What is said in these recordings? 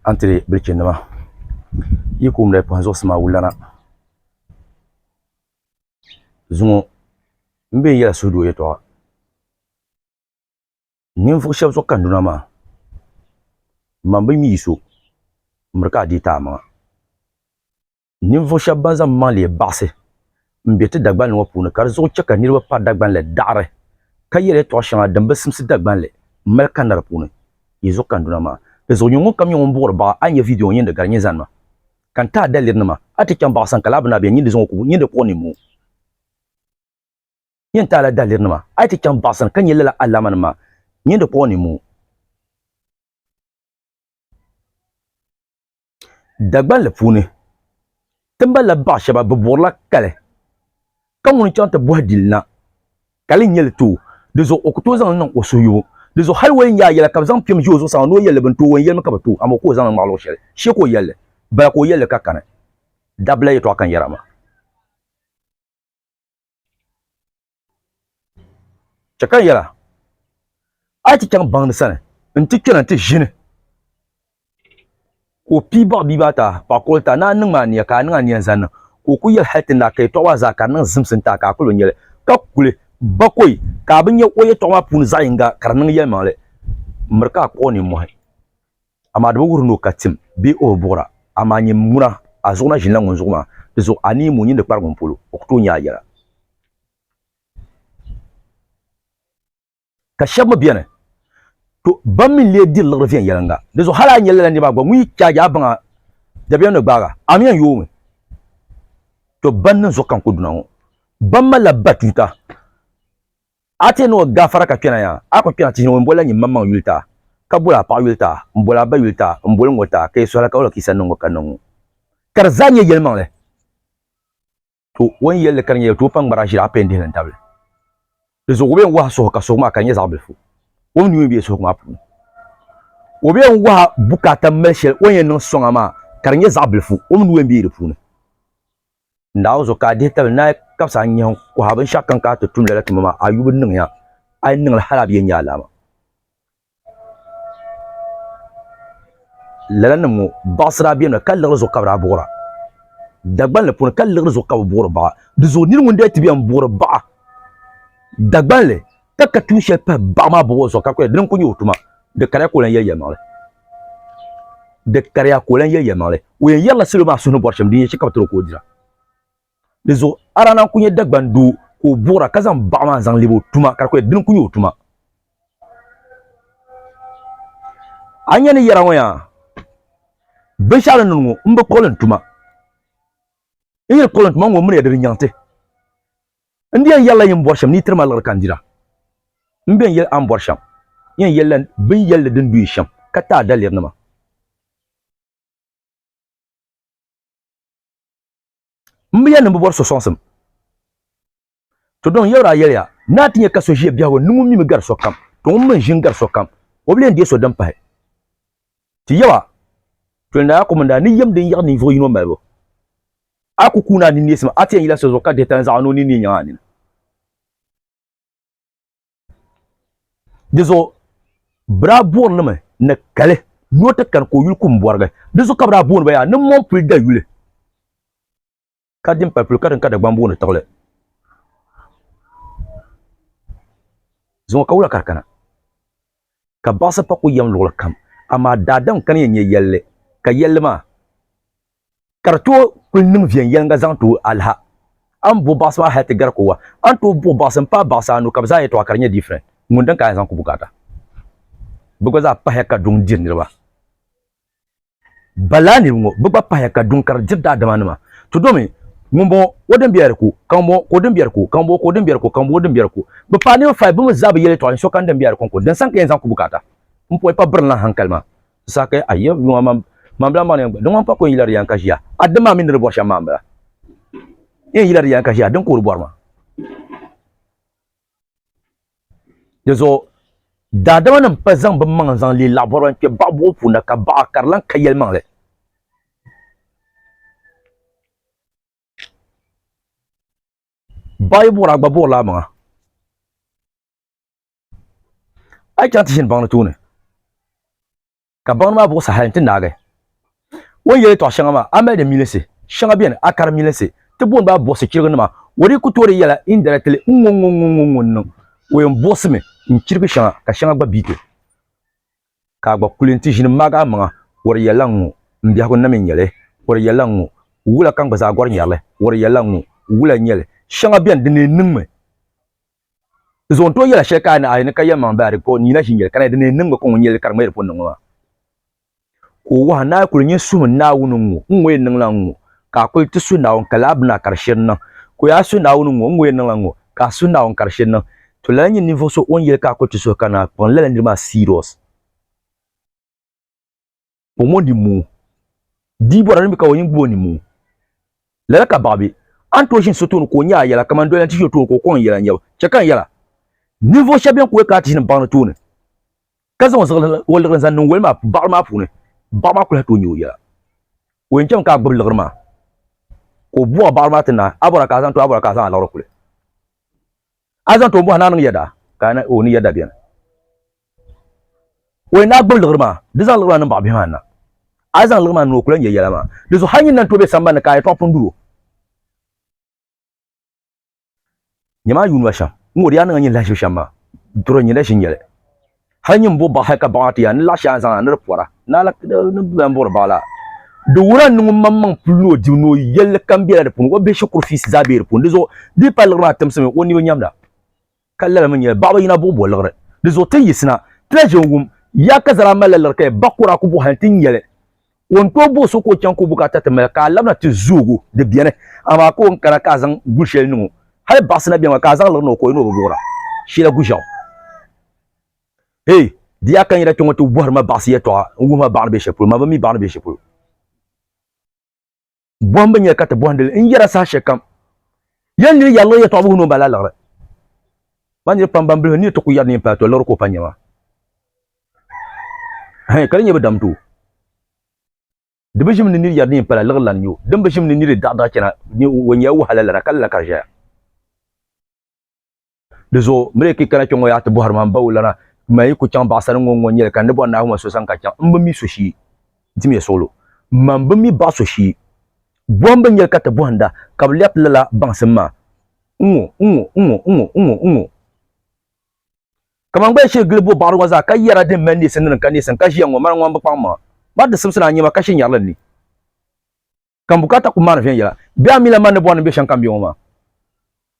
a ni ti leei bilichi nima yi ku mali kpuɣi zuɣusi maa wulana zuŋɔ n bɛ yɛla suhudoo yɛltɔɣa ninvuɣu shab zuɣu kanduna maa n ma bi ni yi so miri ka a deei ti amaŋa Ninvuɣu shɛba ban zaŋ maŋ leei baɣisi m-be ti Dagbani ŋɔ puuni ka di zuɣu chɛ ka niriba pa Dagbani la daɣiri ka yɛli yɛtɔɣ shɛŋa din bi simsi Dagbani li m-mali kanna di puuni. Yi zuɣu kanduna maa, di zuɣu nyin ŋunkam nyɛ ŋun buɣiri baɣa a ni nya vidiyo ŋɔ nyin di gari nyin zani ma. Ka n ti a dalirinima, a ti chaŋ baɣa sani ka laa bi na beni nyin di zuɣu ŋɔ kubu nyin di kpuɣi nimoo. Nyin ti a la dalirinima, a yi ti chaŋ baɣa sani ka nya lala alaamanim maa, nyin di kpuɣi nimoo. Dagbanli puuni, ti malila baɣa shɛba bɛ buɣirila kali ka ŋuni chaŋ ti bɔhi dili na, kali n-nyɛ li tooi, di zuɣu o ku tooi zaŋ li niŋ o suhuyubu, di zuɣu hali o yɛn nyaai yɛla ka bɛ zaŋ piɛm ʒe o zuɣusaa ŋɔ ni o yɛli li bini tooi o n-yɛlimi ka bɛ tooi amaa o ku o zaŋli ŋmahi luɣ shɛli shee ka o yɛli li bala ka o yɛli li ka kani dabila yɛtɔɣa ka n yɛra maa. Chɛ ka n yɛl a, a yi ti chaŋ baŋdi sani nti kpɛna nti ʒini ka o pii baɣ bia maa ti a, paɣ kurili ti a, ni a niŋm a nia ka a niŋ a nia n-zaŋ niŋ ka o kul yɛli hal ti ni daa ka yɛtɔɣ maa zaa ka di niŋ zimsim ti a ka a kul bi nya li, ka kuli bakɔi ka a bi nya o yɛtɔɣ maa puuni zaɣ yiŋga ka di niŋ yɛlimaŋli miri ka a kpuɣ nimmɔhi. Amaa di bi wuhiri ni o ka tim bee o bi buɣira. Amaa nyin muna, a zuɣu na ʒinila ŋun zuɣu maa, di zuɣu a ni yim o nyin di kpari ŋun polo, o ku tooi nya a yɛla. Ka shɛb mi beni, to, bɛn mi n-lee diri liɣiri viɛnyɛliŋga. Di zuɣu hal a nya lala nir maa gba ŋun yi chaagi a baŋa dabiɛm ni gbaag a, a mi yɛn yoomi. To, bɛn niŋ zuɣu ka n ku duna ŋɔ, bɛn malila batuuta. A ti ni o gafara ka kpɛna ya, a ku kpɛna tihi ni ŋun bol la nyin maŋmaŋ yuli ta, ka bol a paɣ yuli ta, m-bol a ba yuli ta, m-bol ŋ-ŋɔ ta, ka yi suhila ka o la ka yi sa niŋŋɔ ka niŋŋɔ. Ka di zaa nyɛ yɛlimaŋli. To o ni yɛl li ka di nyɛla toopam ŋmara ʒiri a pɛn dihi li n-tabi li. Di zuɣu o bee n-wahi suhu ka suhu maa ka di nyɛ zaɣ bilifu, o mi nuu mi be suhugu maa puuni. O bee n-wahi bukaata m-mali shɛli o ni yɛn niŋ sɔŋa maa ka di nyɛ zaɣ bilifu, o mi nuu yɛn be di puuni. Naawuni ka a dihi tabili ni a kabisi a nyɛhi kuhi binshɛɣu kam ka a ti tum lala tuma maa, a yubu niŋya, a yi niŋ li hal a bi yɛn nya alaama. Lalanim ŋɔ baɣisir a bɛnima, ka liɣiri zuɣu ka bɛ daa buɣir a. Dagbanli puuni, ka liɣiri zuɣu ka bɛ buɣir baɣ a. Dinzuɣu nir ŋun daa ti bɛn buɣiri baɣ a Dagbanli, ka ka tuun shɛli pahi baɣa maa bɔbu zuɣu ka kuli dini ku nyɛ o tuma di kariya ka o lan yɛli yɛlimaŋli di kariya ka o lan yɛli yɛlimaŋli o yɛn yɛrila salo maa suhu ni bɔri shɛm din yɛn chɛ ka bɛ tiri o ka o dira di zuɣu Arana n-ku nyɛ Dagban doo ka o buɣira ka zaŋ baɣa maa zaŋ lebi o tuma ka di kuli dini ku nyɛ o tuma a ni nya ni yɛra ŋɔ yaa binshɛɣu ni niŋ ŋɔ m bi kpuɣili n tuma n yi ni kpuɣili n tuma n ŋɔ miriya di di nyaŋ ti N di yɛn yɛlila yi ni bɔri shɛm ni yi tiri ma liɣiri ka n dira. M bɛn yɛli a ni bɔri shɛm yɛn yɛlila bin yɛlli din du yi shɛm ka ti a dalirinima. M bi yɛli ni m bi bɔri so sɔŋsim. Tɔdɔŋ yɛbiri a yɛliya ni a ti nya ka so ʒiya biɛhigu ni ŋun mi mi gari sokam, tɔ ŋun mi n-ʒi n-gari sokam, o bi lee ni deei so din pahi. Ti yaba, Tɔlnaya Kɔmanda, ni yɛm din yiɣi ninvuɣ yino malibu, a ku kuun a ninneesim a ti yɛn yila so zuɣu ka dihi tanzaɣu ni o ninni nyaŋ a nini. Di zuɣu bɛ daa buɣiri li mi ni kali ni o ti kani ka o yuli kumbɔrigi. Di zuɣu ka bɛ daa booni ba yaa ni mɔmpuli dayuli. ka din pali puli ka din ka Dagbaŋ booni tiɣili zuŋɔ ka wula ka di kana ka baɣasi pa ku yɛm luɣuli kam amaa daadam ka ni yɛn nyɛ yɛlli ka yɛlli maa ka di tooi kuli niŋ viɛnyɛliŋga zaŋ tooi aliha a ni buɣi baɣasi maa hali ti gari ko wa a ni tooi buɣi baɣasi m-paai baɣasi anu ka bɛ zaa yɛtɔɣa ka di nyɛ different ŋun din ka a yɛn zaŋ ku bukaata bɛ gba zaa pahiya ka duŋ diri niriba Balaaniba ŋɔ bɛ gba pahiya ka duŋ kari diri daadimanima. Ti domi, Ŋumbɔŋɔ o din biɛri ku, ka ŋumbɔŋɔ ka o din biɛri ku, ka ŋumbɔŋɔ ka o din biɛri ku, ka ŋumbɔŋɔ din biɛri ku. Bɛ paai niriba fai bɛ mi zaa bi yɛl yɛtɔɣa ninsokam din biɛri kɔŋko din saŋ ka yɛn zaŋ ku bukaata. M pɔi pa birinlan haŋkali maa. Di saha ka yɛn, Ayy! Yuŋ a man, manbila maŋ ni yɛn gba, din ŋɔ m-pa ku n yila di yɛn ka ʒiya. A dini maa mi ni di bɔri shɛm maa m-bala. N yɛn yila di yɛn ka ʒiya, a dini ka o di bɔri ma? Di zuɣu daadama nim pa zaŋ bi maŋ zaŋ leei laɣibɔriba n kpɛ baɣa buɣu puuni ka baɣa ka di lan ka yɛli maŋli. Baɣa yi buɣira a gba buɣiri la amaŋa. A yi chaŋ ti ʒini baŋ ni tooni. ka baŋdi maa buɣisi hali nti naagi o ni yɛl yɛtɔɣ shɛŋa maa. A mali di milinsi shɛŋa beni, a kari milinsi ti booni ba buɣisi chiriginima. O dii ku toori yɛla indirectly, Ŋ-ŋɔ ŋ-ŋɔ ŋ-ŋɔ ŋ-ŋɔ ŋ-ŋɔ n-niŋ. O yɛn buɣisimi n-chirigi shɛŋa ka shɛŋa gba biiti ka a gba kuli nti ʒini m-maagi a maŋa, O di yɛlla ŋ-ŋɔ, m biɛhigu na mi n-nyɛ li, O di yɛlla ŋ-ŋɔ, wula ka n gba zaa gɔri nyari li, O di yɛlla ŋ-ŋɔ, wula n-nyɛ li, shɛŋa beni din lee niŋmi. Zuɣu n-tooi yɛla shɛli ka a ni a ni ka yɛlimaŋli baa di ka o ni yina ʒi n-yɛli ka na yi di ni yi niŋ mi ka ŋun yɛli li ka di ŋmɛri pun niŋ mi maa ka o waha naai kuli nyin suhim Naawuni ŋ-ŋɔ n-ŋɔ yɛn niŋla n-ŋɔ ka a kuli ti suhi Naawuni ka lala bini a ka di shiri niŋ ka o yaa suhi Naawuni ŋ-ŋɔ n-ŋɔ yɛn niŋla n-ŋɔ ka a suhi Naawuni ka di shiri niŋ to lala nyini ninvuɣu so o ni yɛli ka a kuli ti suhi ka naa kpuɣi n lala niri maa serious. omo ni mu di bɔra ni ka o yin gbubo ni mu lala ka baɣa be a ni tooi ʒini so tooni ka o nya a yɛla kamani doliyan ti ʒi o tooni ka o kɔŋ n yɛla nyɛbu chɛ ka n yɛla ninvuɣ shɛb bɛn kuli ka a ti ʒini baɣili tooni ka zaŋ o liɣiri zaŋ niŋ woli maa baɣili maa puuni baɣa maa kuli tooi nya o yɛla o yɛn chami ka a gbubi liɣiri maa ka o bɔhi baɣili maa ti naai a bɔra ka a zaŋ to a bɔra ka a zaŋ a liɣiri kuli A zaŋ ti o bɔhi ni a niŋ yɛda, ka o ni yɛda beni. O yɛn daa gbibi liɣiri maa, di zaŋ liɣiri maa niŋ baɣa bihi maa ni na. A yi zaŋ liɣiri maa niŋ o ku lahi nya yɛla maa. Di zuɣu hal nyin lan tooi be sambani ni ka a yɛtɔɣa pun duro. Nyami a yuun ma shɛm, n-ŋɔ di yaa niŋ a nyin lahiʒibu shɛm maa, duri n-nyɛ la ʒinyɛli. Hal nyin bo baɣa hal ka baɣa maa ti yɛn a ni laɣ shɛli a ni zaŋ a ni di pɔra naala ni bɛ lan buɣiri baɣa la. Di wuhiri a ni niŋ ŋunmaŋmaŋ puli ni o dibu ni o yɛlli kam bela di puuni, o bihi shikuru fiisi zaa be di puuni. Di zuɣu di yi paai liɣiri maa timsimi o ni bi nyamda ka lalimi n-nyɛ baɣa bi yina buɣi bo liɣiri. Di zuɣu ti yi yiɣisina ti na ʒe n-wum, Yaa Kazara malila liɣiri ka ya ba kɔra a ku buɣi hal nti nya li. Ka o ni tooi booi so ka o chaŋ ka o bukaata ti mali, ka a labina ti zoogi o, di beni. Amaa ka o ni kana ka a zaŋ gu shɛli niŋ o, hali baɣisi na beni maa, ka a zaŋ liri ni o ka o yi ni o bi buɣir a shila guʒɛɣu. Hey! Di yaa ka n yina kpe ŋɔ ti bɔhiri ma baɣisi yɛtɔɣa n-wuhi ma baɣa ni be shɛli polo, ma bi mi baɣa ni be shɛli polo. bɔhimbu nyɛli ka ti bɔhindi li n-yɛra saha shɛli kam. Yɛli niri yɛri liɣi yɛtɔɣibihi ni o mali aliɣiri. Ba niriba pam ban bilifu ni yi ti ku yɛri neen paai tɔ liɣiri ka o pa nyɛ maa. Hɛn, ka di nyɛ bi dam doo. Di bi ʒim ni niri yɛri neen pala liɣiri lana nyɛ o. Din bi ʒim ni niri daɣidaɣi chana ni o nyɛla wahala lana ka lala ka di ʒɛya. Di zuɣu, miri ki kana kpe ŋɔ yaa ti bɔhiri ma m-ba wulana, ma yi ku chaŋ baɣisariŋ ŋɔ ŋ-ŋɔ nyɛli ka n ni bɔri Naawuni ma so sani ka chaŋ. M bi mi so shee. Dimiya suɣulo. Mani bi mi baɣ so shee. Bɔhimbu n-nyɛli ka ti bɔhinda ka bɛ lɛbiti lala baŋsim maa ŋ-ŋɔ, ŋ-ŋɔ, ŋ-ŋɔ, ŋ-ŋɔ, ŋ-ŋɔ, ŋ-ŋɔ. Kaman gbaya shee gili bo baɣiri ŋɔ zaa ka yɛra din mali neesim ni din ka neesim ka ʒiya ŋ-ŋɔ, mani ŋɔ m bi kpaŋ maŋa. Mani di simsi ni a nyɛma ka she nyari li n ni. ka n bukaata ku maani viɛnyɛla. Bɛ a mi la man ni bɔri ni m be shɛm kam be ŋɔ maa.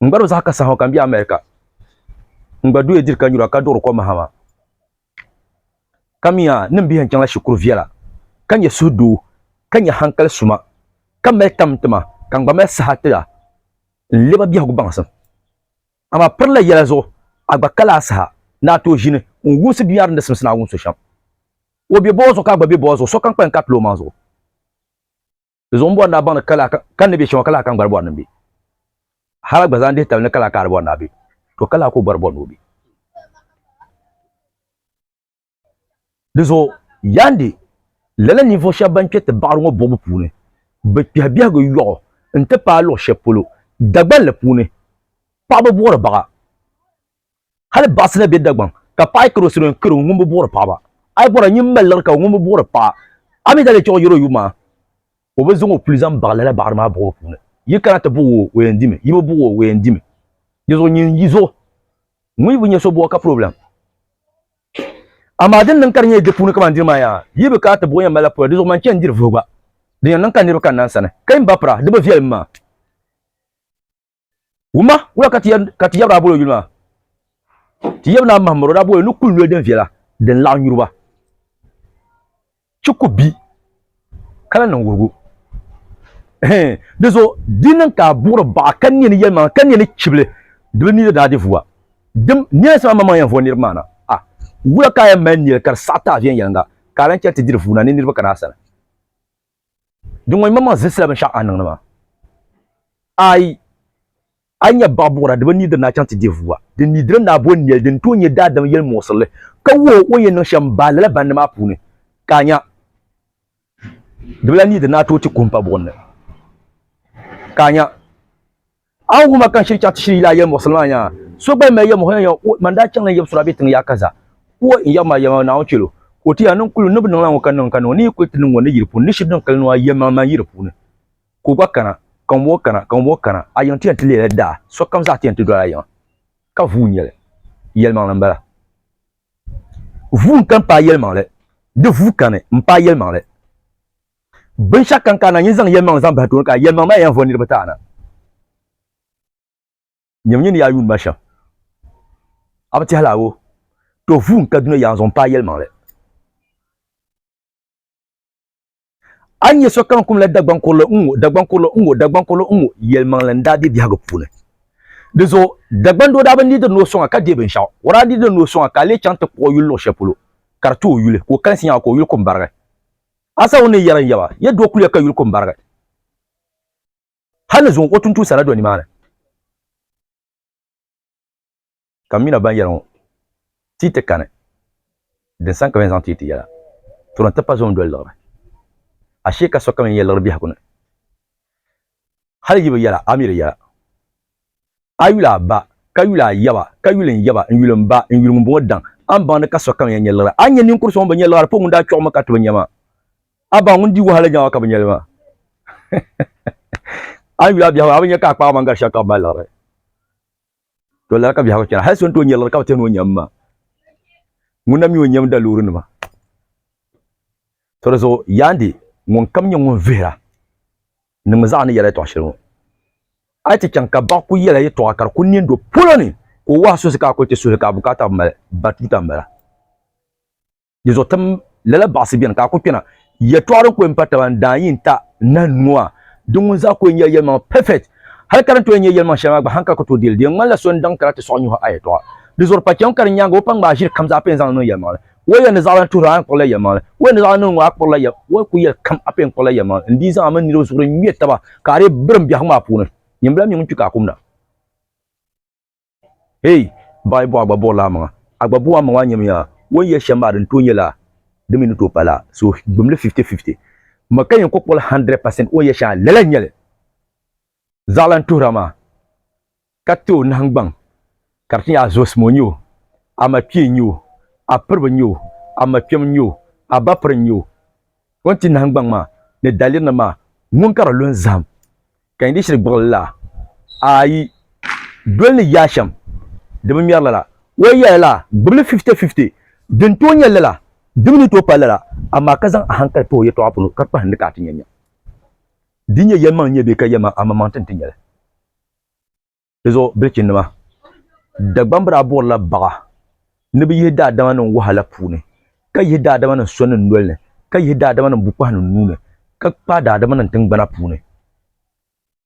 N gba do zaɣ ka saha ŋɔ ka m be America. N gba duya diri ka nyura ka duɣiri ko mahama. Ka mi a ni m bihi n chaŋ la shikuru viɛla ka nyɛ suhu doo ka nyɛ hankali suma ka mali tam n ti ma ka n gba mali saha ti a n lɛba biɛhigu baŋsim. Amaa piri la yɛla zuɣu a gba kali a saha ni a tooi ʒini n wumsi dunia din di simsi ni a wum so shɛm. O be bɔɔ zuɣu ka a gba be bɔɔ zuɣu sokam kpalim ka a pili o maŋ zuɣu. Di zuɣu n bɔri ni a baŋ ni kala kan ni bɛ shɛŋa kala kan gba di bɔri ni n bɛ. Hali a gba zaa n dihi tabili ni kala ka a di bɔri ni a bɛ. To kala ka o gba di bɔri ni o bɛ. Di zuɣu yaandi lala ninvuɣu shɛba ban kpɛ ti baɣiri ŋɔ buɣibu puuni bɛ kpɛhi biɛhigu yɔɣu n-ti paai luɣ shɛli polo Dagbanli puuni paɣiba buɣiri baɣa. Hali baɣisi na be Dagbaŋ ka paɣa yi kari o salo n-kari o ŋun bi buɣiri paɣaba. A yi bɔra nyin mali liɣiri ka ŋun bi buɣiri paɣa, a mi daa lee chɛɣu yɛri o yub maa ka o bi zaŋ o puli zaŋ baɣi lala baɣiri maa buɣibu puuni. Yi kana ti buɣi o, o yɛn dimi, yi bi buɣi o, o yɛn dimi. Dizuɣu nyin yi zuɣu ŋun yi bi nya so buɣa ka problem. Amaa din niŋ ka di nyɛla di puuni kamani dini maa yaa, yi bi kana ti buɣi o yɛn malila pɔya. Dizuɣu man chɛ n-diri vuhigu gba. Di yɛn niŋ ka niriba kanna n sani ka yi ni ba pira, di bi viɛlim maa. Wuma, wula ka ti yaba daa boli o yuli maa? Ti yaba Naa Mahamiro daa boli ni kuli noli din viɛla din laɣi nyuriba chi ku bi ka la niŋ wuhigu. Dizuɣu di niŋ ka a buɣiri baɣa ka nia ni yɛlimaŋli ka nia ni chibili di bi niidi daa di vuwa. Dim, niɛlinsi maa maŋmaŋ yɛn vuɣi niriba maa na. A, wula ka a yɛn mali nɛli ka di saɣi ti a viɛnyɛliŋga ka a lan chɛ nti diri vuuna ni niriba kana a sani? Di ŋɔ yimaŋmaŋ zilsila binshɛɣu a ni niŋdi maa. Aai! A yi nya baɣ buɣira di bi nidiri ni a chaŋ ti deei vua. Di nidiri ni a bo nɛli din tooi nyɛ daadam yɛlimuɣisirili, ka wuhi o o ni yɛn niŋ shɛm baai lala bandi maa puuni, ka a nya. Di bi lahi nidiri ni a tooi ti kuhi m-pa buɣim ni, ka a nya. Awu huma kan shiri chaɣ ti shiri yila ayɛm muɣisili maa nyaŋa, so gba yi mali yɛm muɣisili maa nyaŋa, man daa chaŋla n yɛbu suri a bɛ tiŋ yaɣa kaza, wuhi n yɛbu maa yɛlimaŋli Naawuni chɛlo, ka o ti ya, niŋ kuli ni bi niŋla ŋɔ ka niŋ, ka niŋ, ni yi kuli ti niŋ ŋɔ ni yi di puuni, ni shiri din kali nuu a yɛlimaŋli maa yi di puuni, ka o gba kana, ka ŋunbɔŋɔ kana, ka ŋunbɔŋɔ kana, a yiŋa ti yɛn ti leela daa, sokam zaa ti yɛn ti doli a yiŋa, ka vuui n-nyɛ li. Yɛlimaŋli m-bala. Vuui n-kani paai yɛlimaŋli. Di vuui kani m-paai yɛlimaŋli. Binshɛɣu kam ka a na nyin zaŋ yɛlimaŋli zaŋ bahi tooni ka yɛlimaŋli maa yɛn vo niriba ti a na nyami nyin ni yaa yuuni ma shɛm. A bi tɛhi laawo? To vuui n-Kaduna yaɣa zuɣu m-paai yɛlimaŋli. A ni nya sokam kumla Dagbaŋ kurili n-ŋɔ, Dagbaŋ kurili n-ŋɔ, Dagbaŋ kurili n-ŋɔ, yɛlimaŋli n-daa be biɛhigu puuni. Di zuɣu Dagbaŋ doo daa bi needi ni o sɔŋ a ka deei binshɛɣu. O daa needila ni o sɔŋ a ka a leei chaŋ ti kpuɣ o yuli luɣ shɛli polo ka di ti o yuli ka o kalinsi nyaŋ a ka o yuli ku m-barigi. Asa ŋun ni yɛra n yaba, Yɛ do kuliga ka yuli ko m-barigi. Hal ni zuŋ o tuntumsi a na do nimaani. Ka m mi na baŋ yɛliŋɔ, Ti yi ti kani, din sani ka bɛn zaŋ ti yi ti yɛla, Tɔra nti pa zuŋ doli liɣiri. Ashee ka sokam yɛn yɛ liɣiri biɛhigu ni. hali yi bi yɛla a mi di yɛla. A yuli a ba, ka yuli a yaba, ka yuli n yaba, n yuli m ba, n yuli ŋumbɔŋɔ daŋ. A ni baŋ ni ka sokam yɛn nya liɣiri. A ni nya ninkur so ŋun bi nya liɣiri pɔ ŋun daa kpiɔɣimi ka ti bi nya maa? A baŋ ŋun di wahala nyaŋa ka bi nya li maa? A ni yuli a biɛhigu a bi nya ka a kpaɣimaŋ gari shɛli ka bi mali liɣiri? To lala ka biɛhigu chana. Hal so n-tooi nyari lala ka bi tɛhini o nyam maa. Ŋun na mi o nyam daloorinima. Tɔ di zuɣu Yaande ŋunkam nyɛ ŋun vihira niŋmi zaɣa ni yɛla yɛtɔɣ shɛli ŋɔ. A yi ti chaŋ ka baɣa ku yɛla yɛtɔɣa ka di ku neen do polo ni ka o wahi suhisi ka a kuli ti suhi li ka a bukaata bi mali, ba tuuta m-bala. Di zuɣu tim lala baɣasi beni ka a ku kpena. Yɛtɔɣa din ku m-pa taba n-daa yi n-ta nahin ŋɔ a, di ŋun zaa ku n-nyɛla yɛlimaŋli perfect. Hal ka din tooi nyɛ yɛlimaŋ shɛli maa gba hankali ka tooi deli. Di yɛn ŋmanila so n-daŋ kara ti sɔɣi nyuhi a yɛtɔɣa. Di zuɣu pa cham ka di nyaaŋa o pa ŋmaai ʒiri kam zaa pee n-zaŋ li niŋ yɛlimaŋli. Wal yɛli ni zaɣilana tuhiri a a ni kpuɣila yɛlimaŋli. Wal yɛli ni zaɣilana niŋ ŋɔ a kpuɣila yɛlimaŋli. Wal ku yɛli kam a pee n-kpuɣila yɛlimaŋli. N dii zaŋ a mini niriba zuɣuri n-ŋme taba ka a dii birim biɛhigu maa puuni. Nyin bala mi ŋun kpi ka a kumda. Hey! Baɣi buɣa gba buɣirila amaŋa. A gba buɣi amaŋa nyamiya. O ni yɛli shɛm maa di ni tooi nyɛla di mi ni tooi pala. So gbim li fifty fifty. Ma ka yɛn kɔkpɔli hundred percent o ni yɛli shɛŋa lala n-nyɛli. Zaɣa lan tuhira maa ka ti o nahingbaŋ ka di ti nyɛ a zuɣusim o nyɛ o, a ma kpee n-nyɛ o, a piriba n-nyɛ o, a ma kpɛm n-nyɛ o, a ba piri n-nyɛ o. O ni ti nahingbaŋ maa ni dalirina maa, ŋun ka di lu n-zahim, ka yi di shiri gbuɣili la, ayi, doli ni yaa shɛm di bi ŋmɛri lala, o yɛli la gbibili fifitɛfifitɛ, din tooi nyɛ lala di mi ni tooi pali lala, amaa ka zaŋ ahankali pa o yɛtɔɣa puuni ka kpahindi ka a ti nya nya. Di nyɛ yɛlimaŋli n-nyɛ bee ka yɛlimaŋli amaŋmaŋ ti ni ti nya li? di zuɣu bilichinima Dagbamb daa buɣirila baɣa ni bɛ yihi daadamanim wahala puuni, ka yihi daadamanim sɔnnim noli ni, ka yihi daadamanim bukpahinim nuu ni, ka kpaai daadamanim tiŋgbana puuni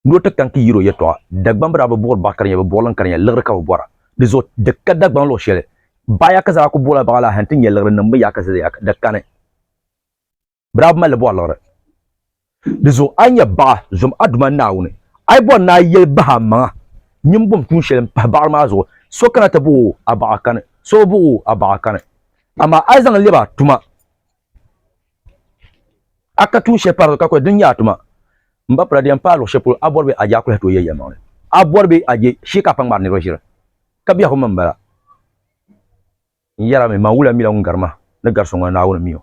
ni o ti kani ti yir o yɛtɔɣa. Dagbamb daa bi buɣiri baɣa ka di nyɛ bɛ buɣilim ka di nyɛ liɣiri ka bɛ bɔra. Di zuɣu di ka Dagbaŋ luɣ shɛli baɣa yaɣ ka zaa ku buɣila baɣa la hal nti nya liɣiri niŋbu yaɣ ka di ka ni. bɛ daa bi mali li bɔri liɣiri. Di zuɣu a nya baɣa zom a Duuma Naawuni, a yi bɔri ni a yɛli bahi amaŋa, Nyini bom tuun shɛli m-pahi baɣiri maa zuɣu, so kana ti bahi o, a baɣi a kani, so bi bahi o, a baɣi a kani. Amaa a yi zaŋ lɛbi a tuma, a ka tuun shɛli pari di zuɣu ka kuli din nyɛ a tuma, m ba pula di yɛn paai luɣ shɛli polo a bɔri bɛ a je a kuli hati o ya yɛlimaŋli. A bɔri bɛ a je shee ka a pa ŋmari niriba ʒiri, ka biɛhigu mi m-bala. N yɛrimi, man wula mi la ŋun gari ma ni gari so ŋuna Naawuni mi o.